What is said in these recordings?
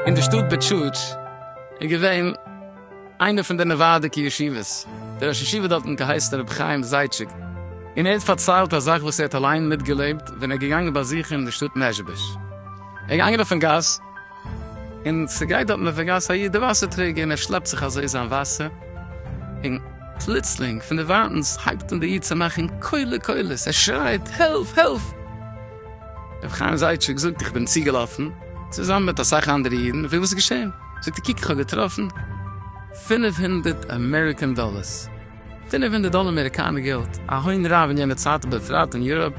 אין די שטאט בעטשאוטש איז געווען איינע פון די נעווארדיקע ישיבות, דער ראש ישיבה דארטן האט געהייסן רבי חיים זייטשיק, און ער האט פארציילט א זאך וואס ער האט אליין מיטגעלעבט ווען ער איז געגאנגען באזוכן די שטאט מעזשביזש, ער איז געגאנגען אויפן גאס, און ס'גייט דארטן אויף דער גאס א איד דער וואסער טרעגער און ער שלעפט זיך אזוי זיין וואסער, און פלוצלינג פון דערווייטענס הייבט אן דער איד צו מאכן קולי קולות, ער שרייט העלף! העלף! רבי חיים זייטשיק זאגט איך בין צוגעלאפן צוזאמען מיט אסאך אנדערע אידן און פרעג וואס איז געשען, זאגט ער קוק איך האב געטראפן פינף הונדערט אמעריקען דאללערס, פינף הונדערט דאללער אמעריקאנער געלט, א הון רב אין יענע צייט ובפרט אין יוראפ.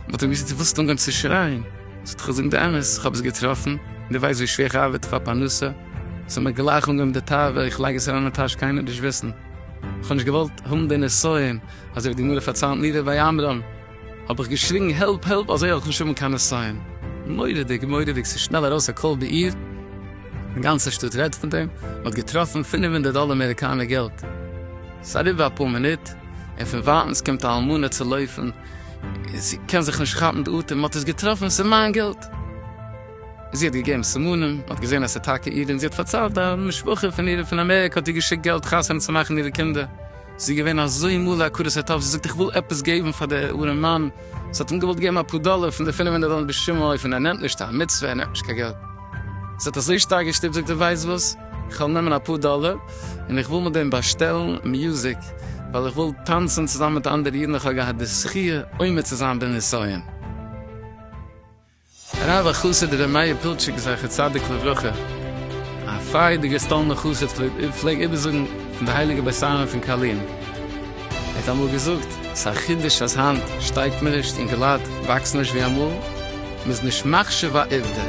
מען האט אים געזאגט דו ווילסט אנגיין צו שרייען, זאגט איך זאג די אמת איך האב עס געטראפן, דו ווייסט ווי שווער איך ארבעט פאר פרנסה, זאל מען גלייך אנגעבן די תאווה, איך לייג עס אריין אין טאש קיינער וועט נישט וויסן, איך האב נישט געוואלט האבן די נסיון, אזוי ווי די גמרא פארציילט נידה ביי עמרם, האב איך געשריגן העלפ העלפ אזוי וועל איך נישט האבן קיין נסיון, מורא'דיג מורא'דיג ס'איז שנעל ארויס א קול בעיר, די גאנצע שטאט רעדט פון דעם, מען האט געטראפן פינף הונדערט דאלער אמעריקאנער געלט, ס'איז אריבער אפאר מינוט, און פון ווייטענס קומט א אלמנה צו לויפן, זי קען זיך נישט כאפן די אטעם, מ'האט עס געטראפן, ס'איז מיין געלט! זי האט געגעבן סימנים, מ'האט געזען אז ס'איז טאקע אירע און זי האט פארציילט א משפחה פון אירע פון אמעריקע האט איר געשיקט געלט חתונה צו מאכן אירע קינדער, זי איז געווען אזוי מלא הכרת הטוב, זי זאגט איך וויל עפעס געבן פאר דער ארעם מאן, זי האט אים געוואלט געבן אפאר דאלער פון די פינף הונדערט דאלער בשום אופן, ער נעמט נישט א מצוה, ער נעמט נישט קיין געלט. עס האט אזוי שטארק געשטופט זאגט ער ווייסט וואס? איך וועל נעמען אפאר דאלער און איך וויל מיט דעם באשטעלן מיוזיק ווייל איך וויל טאנצן צוזאמען מיט אנדערע אידן איך האב געהאט די זכי' עומד צו זיין בנסיון הרב החסיד ר' מאיר פילטשיק זכר צדיק לברכה א פריידיגער סטאלנער חסיד פלעג איבערזאגן פון די הייליגע בית עלמין פון קארלין. ער האט אמאל געזאגט, ס'א חידוש אז היינט שטייגט מען נישט און געלייט וואקסן נישט ווי אמאל, מ'איז נישט מחשיב א עובדה,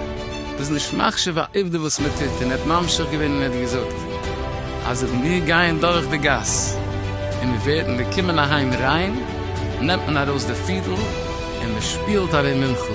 מ'איז נישט מחשיב א עובדה וואס מ'טוט, און ער האט ממשיך געווען און ער האט געזאגט אז אויב מיר גייען דורך די גאס און מיר ווערן מיר קומען אהיים ריין נעמט מען ארויס די פידל און מ'שפילט ארום מנחה.